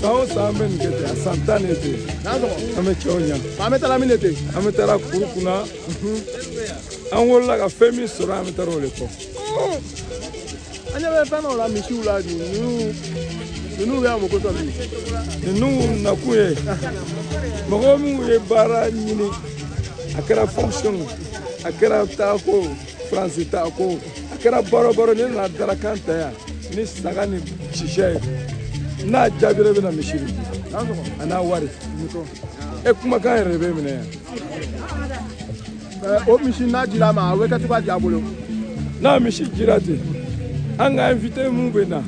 san o san an bɛ nin kɛ ten a san tan de ten an bɛ cɛw ɲa an bɛ taara min de ten an bɛ taara kuru kunna an wolola ka fɛn min sɔrɔ an bɛ taara o de kɔ an ɲɛ bɛ fɛn dɔw la misiw la ninnu ninnu bɛ yan mɔgɔ sɔrɔ ninnu nakun ye mɔgɔ minnu ye baara ɲini a kɛra fonction a kɛra taako Fransi taako a kɛra baro baro n'e nana dalakan ta yan ni saga ni sisɛ ye n'a jaabira i bɛ na misi di a n'a wari e kumakan yɛrɛ bɛ minɛ yan o misi n'a jira ma a bɛ kɛ cogoya di a bolo n'a misi jira ten an ka invité minnu bɛ na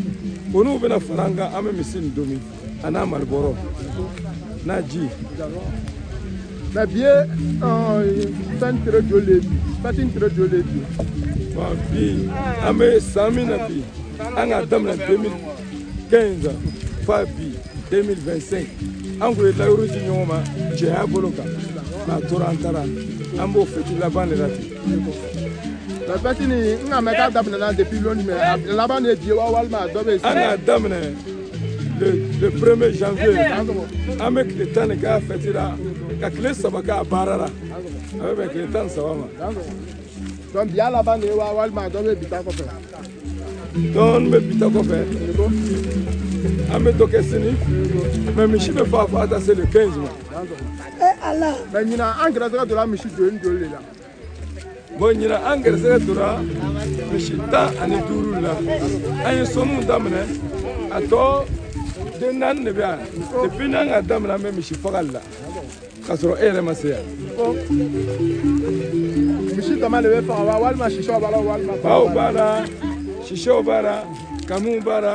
olu bɛna fara an kan an bɛ misi nin domi a n'a malobɔrɔ n'a ji mɛ bi ye fɛn tere joli le bi fɛti in tere joli le bi bɔn bi an bɛ san min na bi an k'a daminɛ 2015 fa bi 2025 an kun ye layidu di ɲɔgɔn ma cɛya bolo kan n'a tora an taara an b'o fɛti laban de la ten mɛ fɛti nin n k'a mɛn k'a daminɛna depuis longtemps mɛ a laban de ye bi ye wa walima dɔ bɛ yen an k'a daminɛ le premier janvier an bɛ tile tan de k'a fɛti la ka tile saba k'a baara la a bɛ bɛn tile tan ni saba ma donc bi y'a laban de ye wa walima dɔ bɛ bi ta kɔfɛ dɔɔni bɛ bi ta kɔfɛ an bɛ dɔ kɛ sini mɛ misi bɛ faa faa taa se le 15 ma. Eh, ala. mɛ ɲinan an gɛrɛsɛgɛ donna misi joli joli de la. bɔn ɲinan an gɛrɛsɛgɛ dora misi tan ani duuru la an ye sɔnni daminɛ a tɔ den naani de bɛ yan depuis n'an k'a daminɛ an bɛ misi fagali la k'a sɔrɔ e yɛrɛ ma se yan misi dama de bɛ faga wa walima sisɛw b'a la walima baw b'a la sisɛw b'a la kamiw b'a la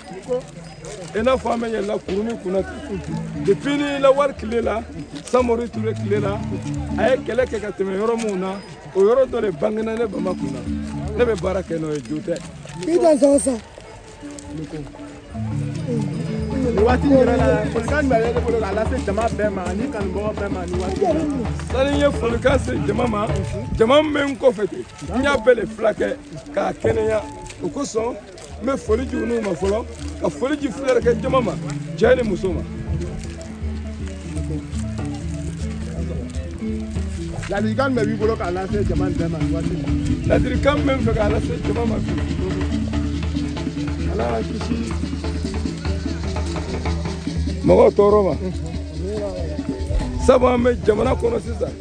i n'a fɔ an bɛ yɛlɛla kuruni kunna depuis ni lawale tile la samori ture tile la a ye kɛlɛ kɛ ka tɛmɛ yɔrɔ minnu na o yɔrɔ dɔ de bangena ne bama kun na ne bɛ baara kɛ n'o ye jo tɛ i dansɔgɔ sa nin waati in yɛrɛ la folikan jumɛn bɛ e bolo k'a lase jama bɛɛ ma ani kanubagaw bɛɛ ma nin waati in na sani n ye folikan se jama ma jama min bɛ n kɔfɛ ten n y'a bɛɛ de filakɛ k'a kɛnɛya o kosɔn n bɛ foli di olu ma fɔlɔ ka foli di filɛlikɛ jama ma cɛ ni muso ma ladilikan mun b'i bolo k'a lase jama bɛɛ ma nin waati ladilikan min bɛ n fɛ k'a lase jama ma bi ala k'an kisi mɔgɔw tɔɔrɔ ma sabu an bɛ jamana kɔnɔ sisan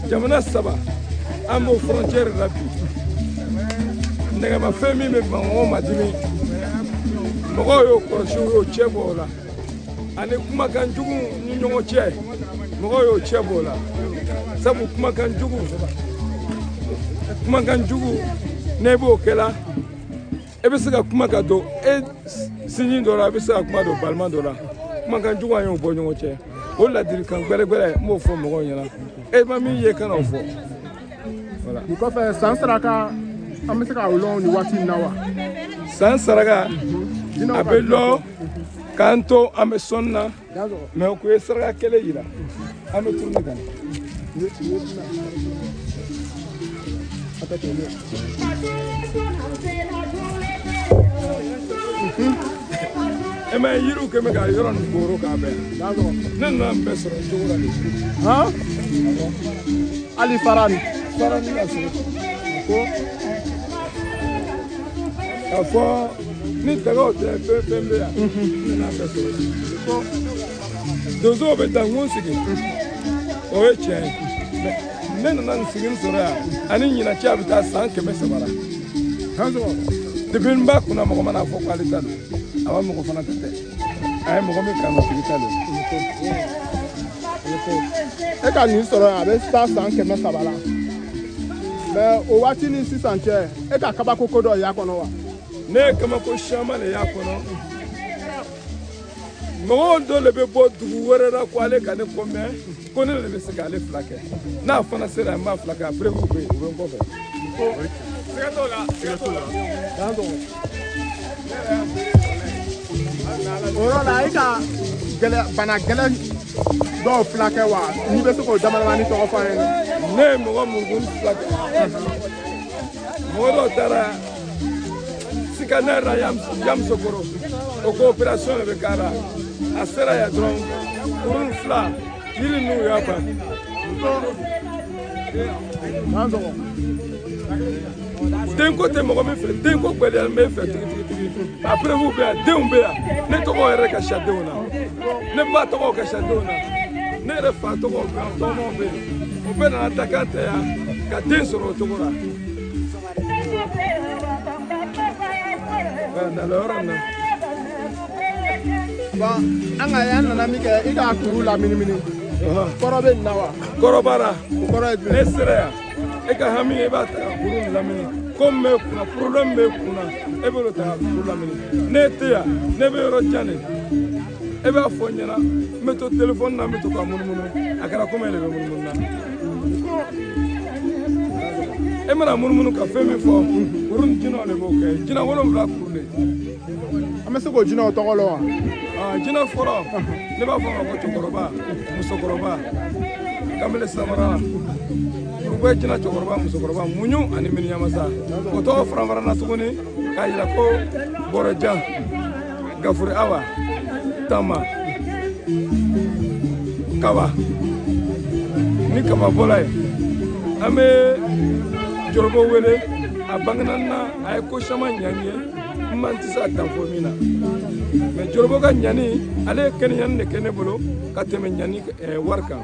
jamana saba an b'o frontière la bi nɛgɛmafɛn min bɛ mɔgɔ madimi mɔgɔw y'o kɔlɔsi u y'o cɛ bɔ o la ani kumakan jugu ni ɲɔgɔn cɛ mɔgɔw y'o cɛ bɔ o la sabu kumakan jugu kumakan jugu n'e b'o kɛla e bɛ se ka kuma ka don e sinji dɔ la e bɛ se ka kuma don balima dɔ la kumakan jugu an y'o bɔ ɲɔgɔn cɛ o ladilikan gbɛlɛgbɛlɛ n b'o fɔ mɔgɔw ɲɛna e ma min ye kana o fɔ nin kɔfɛ san saraka an bɛ se k'a lɔn nin waati in na wa san saraka a bɛ lɔn k'an to an bɛ sɔnni na mais ko e saraka kɛlɛ yira an bɛ tournée kan e ma yiriw kɛ bɛ ka yɔrɔ nin kooro k'a bɛɛ ne nana n bɛɛ sɔrɔ cogo la de hali fara nin fara nin ka sɔrɔ ko ka fɔ ni daga o tɛ fɛn fɛn bɛ yan ne n'a bɛɛ sɔrɔ ko donsow bɛ dankun sigi o ye tiɲɛ ye ne nana nin sigi sɔrɔ yan ani ɲinan cɛ a bɛ taa san kɛmɛ saba la depuis n b'a kunna mɔgɔ mana fɔ k'ale ta don a b'a mɔgɔ fana ta tɛ a ye mɔgɔ min kanu tigi ta don e ka nin sɔrɔ yan a bɛ taa san kɛmɛ saba la mais o waati ni sisan cɛ e ka kabako ko dɔ y'a kɔnɔ wa ne ye kabako siyaman de y'a kɔnɔ mɔgɔ dɔ de bɛ bɔ dugu wɛrɛ la ko ale ka ne ko mɛn ko ne de bɛ se k'ale fila kɛ n'a fana sera n b'a fila kɛ a preuve bɛ yen o bɛ n kɔfɛ. siga t'o la siga t'o la. dan dɔgɔ. o yɔrɔ la e ka bana gɛlɛn dɔw fila kɛ wa n'i bɛ se k'o damadamani tɔgɔ fɔ an ye. ne ye mɔgɔ mun kun fila kɛ. mɔgɔ dɔw taara scanner la yamusokoro o ko opération de bɛ k'a la a sera yan dɔrɔn kuru fila yiri ninnu y'a ban denko tɛ mɔgɔ min fɛ denko gbɛlɛyalen b'e fɛ tigitigi a preuve bɛ yan denw bɛ yan ne tɔgɔ yɛrɛ ka siya denw na ne ba tɔgɔ ka siya denw na ne yɛrɛ fa tɔgɔ ka tɔgɔ bɛ yen u bɛɛ nana ta k'a tɛ yan ka den sɔrɔ o cogo la nana yɔrɔ in na bon an ka yan nana min kɛ i ka kuru laminimini kɔrɔ bɛ nin na wa kɔrɔ b'a la o kɔrɔ ye jumɛn n'e sera yan e ka hami i b'a ta ka kuru lamini ko min b'e kunna problème b'e kunna e b'o ta ka kuru lamini n'e tɛ yan n'e bɛ yɔrɔ jan de e b'a fɔ n ɲɛna n bɛ to téléphone na n bɛ to ka munumunu a kɛra komi e de bɛ munumunu na e mana munumunu ka fɛn min fɔ kuru ni jinɛw de b'o kɛ jinɛ wolonwula kuru de an bɛ se k'o jinɛw tɔgɔ lɔn wa jinɛ fɔlɔ ne b'a fɔ ma ko cɛkɔrɔba musokɔrɔba kamele samara kurubɛ jinɛ cɛkɔrɔba musokɔrɔba muɲu ani miniyamasa o tɔgɔ faranfarana tuguni k'a yira ko bɔrɔjan gafure awa tama kaba ni kaba bɔla ye an bɛ jɔrɔbɔ wele a bangena na a ye ko caman ɲa n ye n man tɛ se a dan fɔ min na mais jɔrɔbɔ ka ɲani ale ye kɛnɛɲani de kɛ ne bolo ka tɛmɛ ɲani wari kan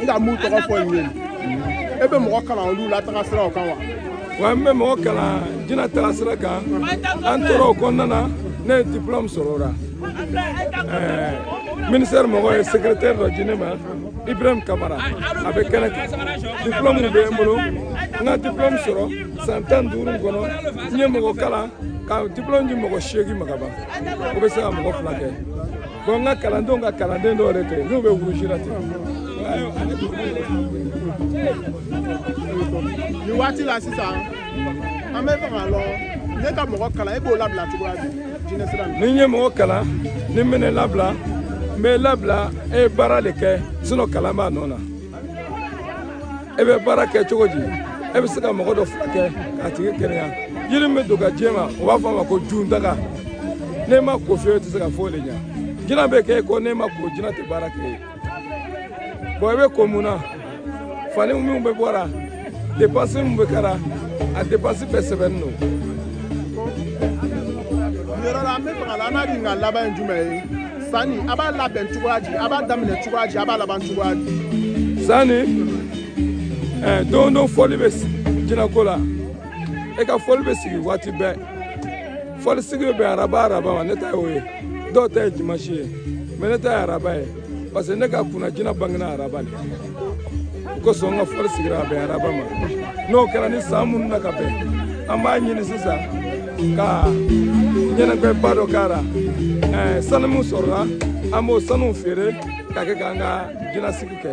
n ka mun tɔgɔ fɔ nin ye e bɛ mɔgɔ kalan olu la taga siraw kan wa wa n bɛ mɔgɔ kalan jina taga sira kan an tora o kɔnɔna na ne ye diplôme sɔrɔ o la ministère mɔgɔ ye secrétaire dɔ di ne ma ibrahim kamara a bɛ kɛnɛ kan diplôme bɛ n bolo n ka diplôme sɔrɔ san tan duuru kɔnɔ n ye mɔgɔ kalan ka diplôme di mɔgɔ seegin ma ka ban o bɛ se ka mɔgɔ furakɛ ko n ka kalandenw ka kalanden dɔw yɛrɛ tɛ n'u bɛ wurusi la ten nin waati la sisan an b'a fɛ k'a lɔn n'e ka mɔgɔ kalan e b'o labila cogoya di jinɛ sira ni n ye mɔgɔ kalan ni n bɛn'e labila n b'e labila e ye baara de kɛ sinon kalan b'a nɔ na e bɛ baara kɛ cogo di e bɛ se ka mɔgɔ dɔ furakɛ k'a tigi kɛnɛya yiri min bɛ don ka di e ma u b'a fɔ a ma ko jundaga n'e ma ko fiyewu i tɛ se ka foyi de ɲɛ jina bɛ kɛ e kɔ n'e ma ko jina tɛ baara k'i ye bon i bɛ ko mun na fani minnu bɛ bɔ a la depansi min bɛ k'a la a depansi bɛɛ sɛbɛnnen don yɔrɔ la an b'a fɛ k'a lɔn an n'a ɲininka laban ye jumɛn ye sanni a b'a labɛn cogoya di a b'a daminɛ cogoya di a b'a laban cogoya di sanni eh, don don fɔli bɛ jinɛko la e ka fɔli bɛ sigi waati bɛɛ fɔli sigi bɛ bɛn araba araba ma ne ta y'o ye dɔw ta ye dimansi ye mais ne ta ye araba ye parce que ne ka kunna jinɛ bangena araba de o kosɔn n ka fɔli sigira ka bɛn araba ma n'o kɛra ni san mununa ka bɛn an b'a ɲini sisan ka ɲɛnajɛba dɔ k'a la sanu min sɔrɔla an b'o sanuw feere ka kɛ k'an ka jinasigi kɛ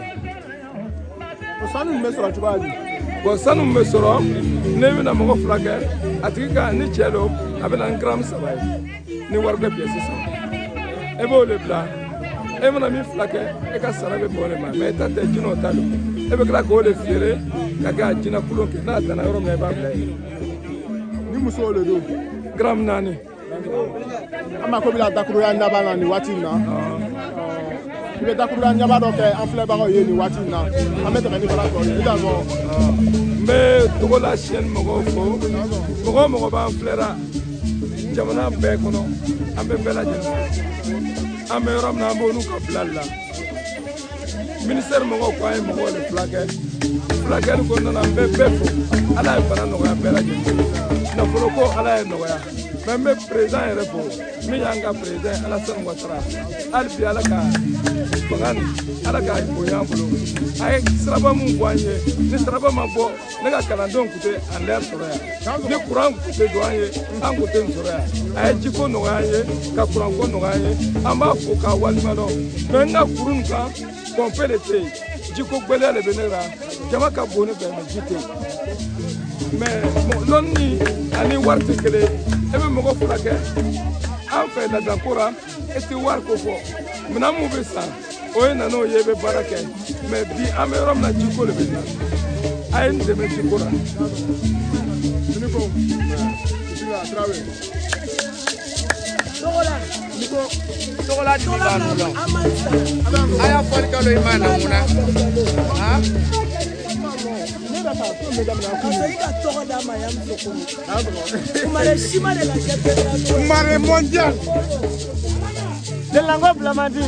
o sanu min bɛ sɔrɔ cogoya di bon sanu min bɛ sɔrɔ ne bɛna mɔgɔ furakɛ a tigi ka ni cɛ don a bɛ na ni garamu saba ye ni warigbɛ pièce sisan e b'o de bila e mana min furakɛ e ka sara bɛ bɔ o de ma mɛ e ta tɛ jinɛw ta don e bɛ tila k'o de feere ka kɛ a jinɛ kolon kɛ n'a danna yɔrɔ min na i b'a bila yen ni musow de don garamu naani an mako b'i la dakuruɲa laban na nin waati in na i bɛ dakuruɲa laban dɔ kɛ an filɛbagaw ye nin waati in na an bɛ tɛmɛ ni baara tɔ ye i ka fɔ. n bɛ Togola chaîne mɔgɔw fo mɔgɔ o mɔgɔ b'an filɛra jamana bɛɛ kɔnɔ an bɛ bɛɛ lajɛlen fo an bɛ yɔrɔ min na an b'olu ka bilali la minisitɛri mɔgɔw ko an ye mɔgɔw de furakɛ furakɛli kɔnɔna na n bɛ bɛɛ fo ala ye bana nɔgɔya bɛɛ lajɛlen nafolo ko ala y'a nɔgɔya mɛ n bɛ président yɛrɛ fo min y'an ka président Alassane Ouattara hali bi Ala ka fanga ni Ala ka bonya an bolo a ye siraba min bɔ an ye ni siraba ma bɔ ne ka kalandenw kun tɛ an yɛrɛ sɔrɔ yan ni kuran kun tɛ don an ye an kun tɛ nin sɔrɔ yan a ye jiko nɔgɔya an ye ka kuranko nɔgɔya an ye an b'a fo k'a waleɲumandɔn mɛ n ka kuru nin kan pɔnpe de tɛ yen jiko gbɛlɛya de bɛ ne la jama ka bon ne fɛ mɛ ji tɛ yen mɛ lɔnni ani wari tɛ kelen e bɛ mɔgɔ furakɛ an fɛ laadako la e tɛ wari ko fɔ minɛn mun bɛ san o ye na n'o ye e bɛ baara kɛ mɛ bi an bɛ yɔrɔ min na jiko de bɛ n na a ye n dɛmɛ jiko la. Togola di b'a nu la a y'a fɔli kalo i ma na mun na han Mare mondial. De lango blamandi.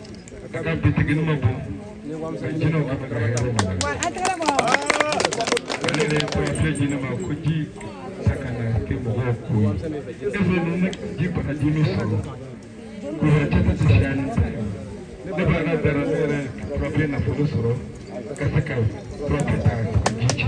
ka bitigi ma bɔ jinɛw ka ka hɛrɛ ma ale de ye kɔɲɔfɛ jinɛ ma ko ji ta kana kɛ mɔgɔw ko ye e fɛ ninnu ji bana ji min sɔrɔ kɔrɔ tɛ ka sariya ni ta ye ne b'a ka dara ne yɛrɛ kɔrɔfɛ nafolo sɔrɔ ka se ka kɔrɔfɛ ta ka ji cɛ.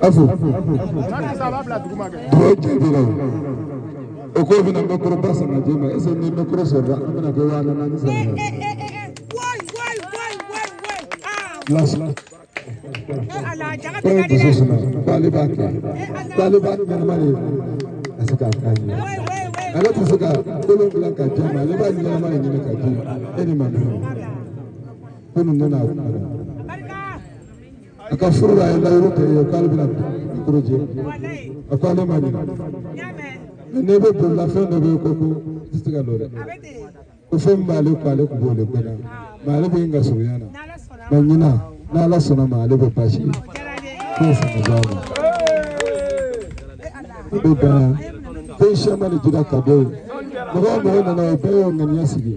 Afu. Duwa jaabila o. O ko bɛna bɛ kɔrɔ ba sama jɛ ma ɛsɛ ni bɛ kɔrɔ sɔrɔ an bɛna kɛ waa naani sɔrɔ. Lasila. Kɔrɔ dusu suma k'ale b'a kɛ k'ale b'a ɲɛnama de ka se k'a k'a ɲɛ. Ale tɛ se ka kolon bila ka di e ma ale b'a ɲɛnama de ɲini ka di e ni ma dɔn. Ko nin nana a kun. a ka furu la a ye layiru kɛ ye k'ale bɛna mikoro jɛ a ko ale ma ɲina mɛ n'e bɛ bololafɛn dɔ bɛ yen ko i tɛ se ka don dɛ ko fɛn min b'ale ko ale tun b'o de gbɛna mɛ ale bɛ yen ka surunya na mɛ ɲina n'ala sɔnna ma ale bɛ baasi ye k'o fana b'a ma i bɛ dan ko sɛma de jira ka bɔ yen mɔgɔ o mɔgɔ nana o bɛɛ y'o ŋaniya sigi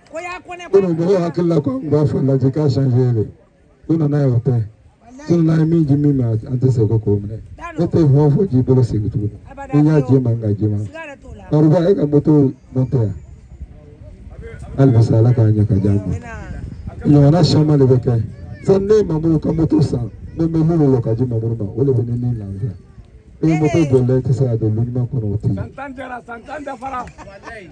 mɔgɔw hakili la ko an b'a fɔ lajɛ k'a sanfɛ de ko nana ye o tɛ sɔrɔ n'a ye min ji min ma an tɛ se ko k'o minɛ ne tɛ fɛn o fɛn k'i bolo segin tuguni n'i y'a jɛ man ka jɛ man kariba e ka moto man tɛ yan hali bi sa ala k'a ɲɛ ka di an ma ɲɔgɔnna caman de bɛ kɛ sani ne ye mamudu ka moto san ne bɛ minnu lɔ ka di mamudu ma o de bɛ ne ni lafiya e moto jɔlen tɛ se ka don lu ɲuman kɔnɔ o tɛ yen.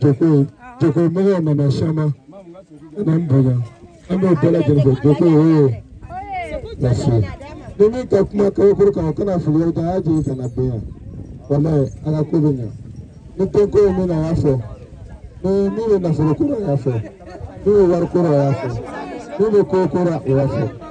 Joko Joko mɔgɔw nana caman ka na n bonya an b'o bɛɛ lajɛlen fo Joko oo lase ni min ka kuma kabakuru kan o kana fili yɔrɔ jan a y'a jigin ka na bonya walayi a ka ko bɛ ɲa ni denko ye min na a y'a fɔ ni min bɛ nafolo ko la a y'a fɔ min bɛ wari ko la a y'a fɔ min bɛ ko ko la o y'a fɔ.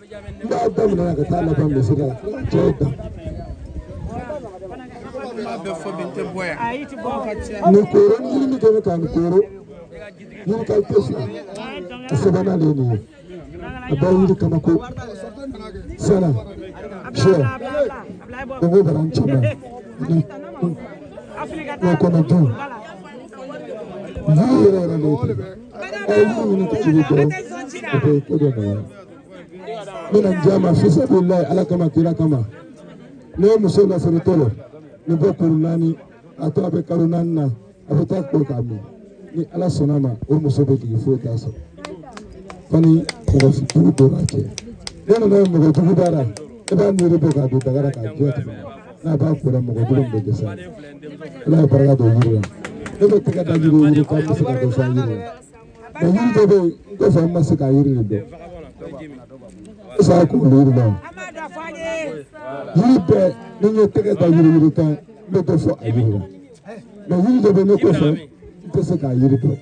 ba ba min na ka taa laban misiri la cɛw da nin kooro ni yiri min kɛlen ka nin kooro yiri ka ɲi fila a sabanan de ye nin ye a bɛɛ yiri kama ko sɛnɛ sɛ dongo bara n cɛ ma ni n'o kɔnɔ dun yiri yɛrɛ yɛrɛ de ye ten a ye yiri ɲini ka jigin dɔrɔn o bɛ ko dɔ nɔgɔya. n bɛna di a ma fisabililayi ala kama kira kama ne ye muso lasiritɔ lo nin bɛ kuru naani a to a bɛ kalo naani na a bɛ taa ko k'a min ni ala sɔnna a ma o muso bɛ jigin foyi t'a sɔrɔ fo ni mɔgɔ jugu don a cɛ ne nana ye mɔgɔ jugu b'a la i b'a yiri bɔ k'a don daga la k'a jɛ tigɛ n'a b'a kora mɔgɔ jugu min bɛ dɛsɛ a la ala ye barika don yiri la ne bɛ tɛgɛ da yiri yiri kan n bɛ se ka dɔ fɔ a yiri la. mɛ yiri dɔ bɛ yen n kɔfɛ n ma se k'a yiri de dɔn e sara k'o yiri dɔn yiri bɛɛ ni n ye tɛgɛ da yiri yiri kan n bɛ dɔ fɔ a yiri la mɛ yiri dɔ bɛ ne kɔfɛ n tɛ se k'a yiri dɔn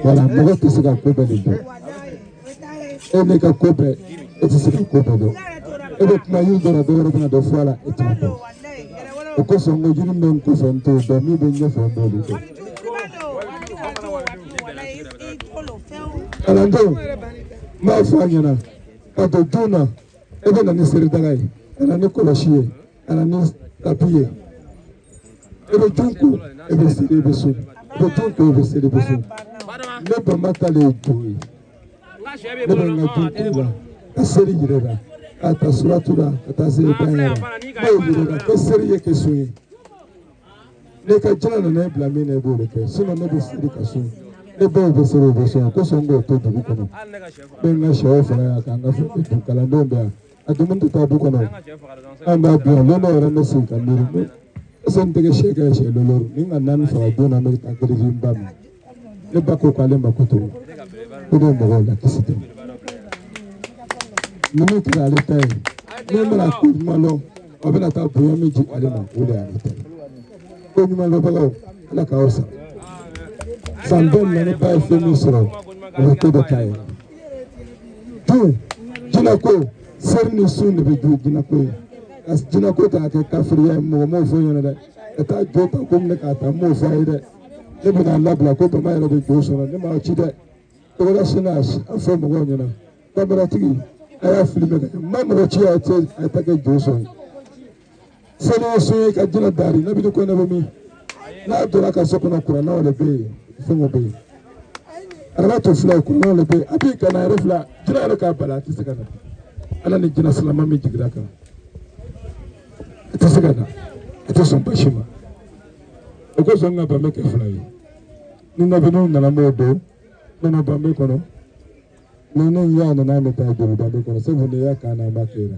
wala mɔgɔ tɛ se ka ko bɛɛ de dɔn. e ne ka ko bɛɛ e tɛ se ka ko bɛɛ dɔn e bɛ kuma yiri dɔ la dɔ wɛrɛ bɛna dɔ fɔ a la e t'a dɔn o kosɔn n ko jiri bɛ n kɔfɛ n t'o dɔn min bɛ n ɲɛfɛ n b'olu dɔn. kalandenw n b'a fɔ a ɲɛna ka don du na e bɛ na ni seridaga ye ka na ni kɔlɔsi ye ka na ni tapi ye. e bɛ jo ko e bɛ seli e bɛ sun e bɛ jo ko e bɛ seli e bɛ sun ne bɛnba ta de ye jo ye ne bɛ n ka jo ko la ka seli yɛrɛ la ka ta suratu la ka taa se ban yɛrɛ la ne ye yɛrɛ la ko seli ye kɛ sun ye ne ka jinɛ nana e bila min na e b'o de kɛ sinɔn ne bɛ seli ka sun ne baw bɛ seli o bɛ sun yan kosɔn k'o to dugu kɔnɔ ne ye n ka sɛw faga yan ka n ka kalandenw bɛ yan. a dumuni tɛ taa du kɔnɔ an b'a dun yan lon dɔ yɛrɛ bɛ sigi ka miiri ko ɛsɛ n tɛgɛ se ka sɛ lɔɔru ni ka naani faga don na n bɛ taa gere di n ba ma ne ba ko k'ale mako t'o ko ne mɔgɔw la kisi tɛ ni min tɛ ale ta ye ne bɛna ko ɲuman lɔn a bɛna taa bonya min di ale ma o de y'ale ta ye ko ɲuman lɔbagaw ala k'aw sara san bɛɛ na ne ba ye fɛn min sɔrɔ o ye ko dɔ ta ye. Don jinɛko seri ni sun de bɛ don jinɛko ye ka jinɛko ta kɛ kafiriya ye mɔgɔ m'o fɔ n ɲɛ na dɛ ka taa jo ta ko minɛ k'a ta m'o fɔ a ye dɛ ne bɛ k'a labila ko bama yɛrɛ bɛ jo sɔrɔ ne m'a ci dɛ tɔgɔla sini a fɔ mɔgɔw ɲɛ na kameratigi a y'a filime kɛ n ma mɔgɔ ci a ye taa kɛ jo sɔrɔ sali ye sun ye ka jina daari ne bini ko ne bɛ min n'a donna n ka so kɔnɔ kuranɛw de bɛ yen fɛnw bɛ yen araba to fila kuranɛw de bɛ yen a b'i kana yɛrɛ fila jina yɛrɛ k'a bala a tɛ se ka na ala ni jina silama min jigira n kan a tɛ se ka na a tɛ sɔn basi ma o kosɔn ka banbe kɛ fila ye ni nabiniw nana n b'o don ne na banbe kɔnɔ ni ne y'a nana ne ta joli banbe kɔnɔ sabu ne y'a kan na an b'a kɛ la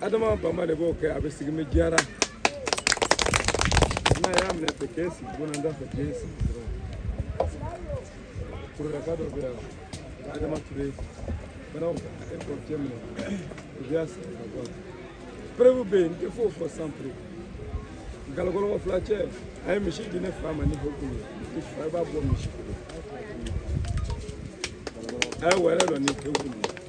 adama bama de b'o kɛ a bɛ sigi ni diyara n'a y'a minɛ tɛ kɛ sigi bɔnna da fɛ kɛ sigi dɔrɔn kurulaka dɔ bɛ yan adama ture banaw e k'o cɛ minɛ u bɛ y'a sigi ka bɔ a la perewu bɛ yen n tɛ foyi fɔ san perewu galakɔlɔkɔ fila cɛ a ye misi di ne fa ma ni bɔkun ye i fa i b'a bɔ misi bolo a ye wɛrɛ dɔ ni pewu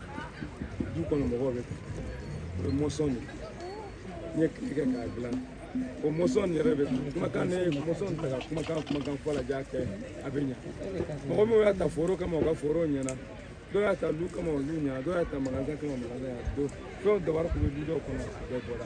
du kɔnɔ mɔgɔw bɛ o ye mɔsɔn de n ye kile kɛ k'a dilan o mɔsɔn yɛrɛ bɛ kumakan ne ye mɔsɔn ta ka kumakan kumakan fɔ la jaa kɛ a bɛ ɲa mɔgɔ min y'a ta foro kama o ka foro ɲɛna dɔw y'a ta lu kama olu ɲɛna dɔw y'a ta magasin kama magasin y'a don fɛnw dabari kun bɛ du dɔw kɔnɔ a bɛɛ bɔra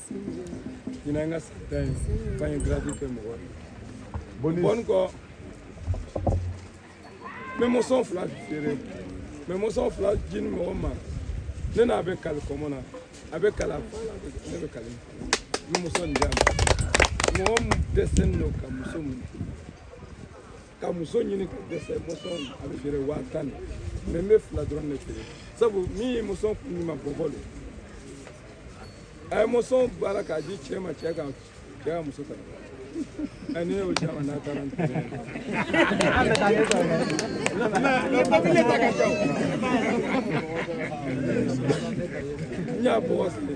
ɲinan ka san tan ye fa ye gratuit kɛ mɔgɔ ye bɔni kɔ n bɛ mɔsɔn fila feere n bɛ mɔsɔn fila di mɔgɔ ma ne n'a bɛ kali kɔmɔ na a bɛ kala ne bɛ kali n bɛ mɔsɔn di a ma mɔgɔ min dɛsɛlen don ka muso minɛ ka muso ɲini ka dɛsɛ mosɔn a bɛ feere waa tan de mɛ n bɛ fila dɔrɔn de feere sabu min ye mosɔn kun ɲuman b'o bolo de a ye mosɔn baara k'a di cɛ ma cɛ ka cɛ ka muso ta ɛ ne y'o caman n'a taara n tɛmɛ n y'a bɔgɔ sigi